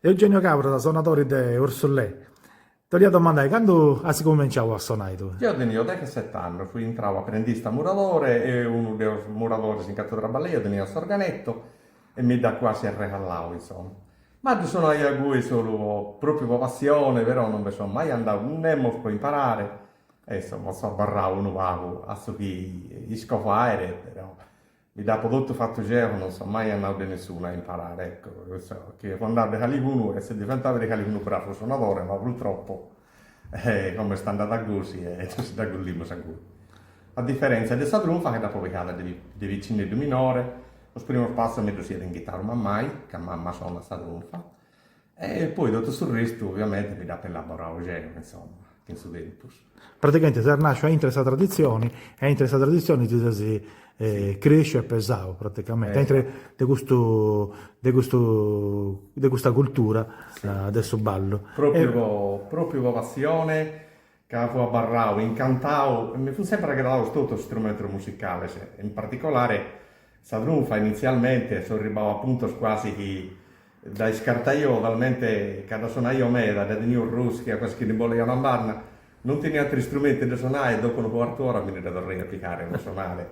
Eugenio Cabras, sonadori de Ursulè. T'olia domandai, candu as cumenciau a sonai tui? Deu tenìu dexeset'annus, fui intrau aprendista muradore e unu de is muradoris in cantu trabballaio teniat s'organetu e mi dd'at cuasi arregallau, insoma. Ma ddu sonaio ingui solu po, pròpriu po passioni, però non nci seu mai andau nemus po imparari e insoma, so abarrau unu pagu a su chi isco fairi, però Mi dd'apo totu fatu geo, non so mai andau de nessunu a imparare, ecco, chissà chi fu andau de caligunu, essi diventau de caligunu bravu sonadore, ma purtroppo, como est andada gosi, e si dd'agollimus agoi. A diferentzia de sa trunfa chi dd'apo pigada de piccinneddu minore, sos primos passos mi ddus iat inghittau mammai, ca mamma sonat sa trunfa, E poi totu su restu oviamenti mi dd'apu elaborau geu, insoma, chin su tempus. Praticamenti ses nasciu aintru 'e sa traditzioni e aintru 'e sa traditzioni ti ses cresciu e pesau praticamenti, aintru de custu de custu de custa cultura de su ballu. Propriu po propriu po passioni ca fu abarrau, incantau e mi funt sempri agradaus totus is strumentus musicales, in particolare sa trunfa, initzialmente so arribau a puntos cuasi chi dda iscartaio, talmente ca dda sonaio meda, dda tenio arroschia cuasi chi ndi bolaio a una banda, non tenia ateru istrumentu de sonare e dopu unu cuartu ora mi ndi dda torraia a pigare po sonare.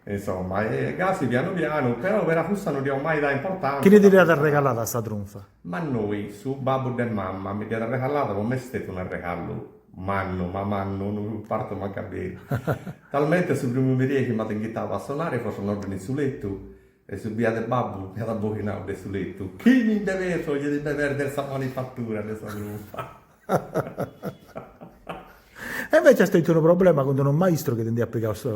Insomma, e gasi pianu pianu, però peri a cussa no dd'io mai dau importanza. Chini ti dd'iat arregalada sa trunfa? Mannoi, su babbu de mamma mi dd'iat arregalada po m'est stetiu un'arregallu mannu, ma mannu, non partu mancu beru. Talmente su primu merie chi m'at inghitau a sonare fut una oddhe in su lettu e su biadu 'e babbu mi at abboghinau de su lettu. Chi mi nde peso, ddi devet perder sa manifattura de sa trunfa. E invece as tentu unu problema cun d'unu maistru chi ti nd'hiat pigau su.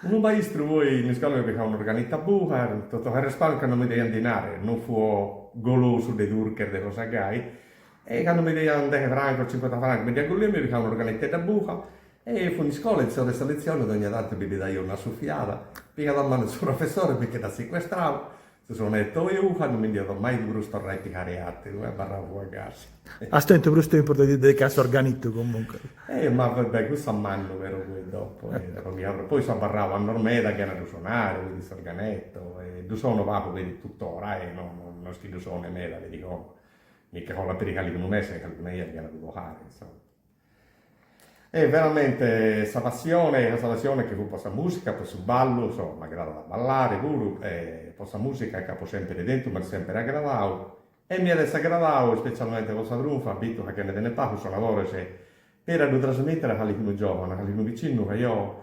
Unu maistru poi in iscola m'at pigau un'organettu 'e buca, totu s'arrespàrmiu candu mi deiant dinare, no fuo golosu de durches de cosa gai, e candu mi deiant deghe francos, cincuenta francos, mi ddi agollio e mi pigao un'organetteddu 'e buca, e fu in iscola, in s'ora 'e sa letzione, dogna tantu ddi daio una sufiada, pigat a manu su professore e mi nche d'at secuestrau, Cussu sonette, geo non mi nd'apo mai prus torrau a pigare ateru, abarrau fua gasi. As tentu prus tempus de ti dedicai a s'organittu comunque. Eh, ma va bè, cussu a mannu però poi dopo eh, dopo mi abarrau, poi so abarrau annos meda chena ddu sonare, poi s'organetto, e ddu sono pagu peri tuttora eh, no no no est chi ddu sone meda peri como, mi nche collat peri calchi unu mese, calchi una 'ia chena ddu toccare, insomma. E veramente sa passione, sa passione chi fut po sa musica, po su ballu, insomma m'agradat a ballare puru e po sa musica dd'apo sempere tentu, m'at sempere agradau e m'iat essi agradau ispecialmente po sa trunfa, bistu ca che nde tenet pagu sonadores, peri a ddu trasmettere a calicunu giovane, a calicunu piccinnu ca eo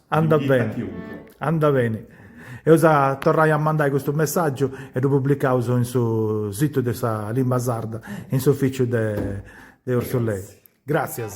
Andat beni, andat beni. Eus a torrai a mandai custu messàgiu e ddu publicaus in su situ de sa limba sarda, in s'ufìciu de Ursulei. Gràtzias.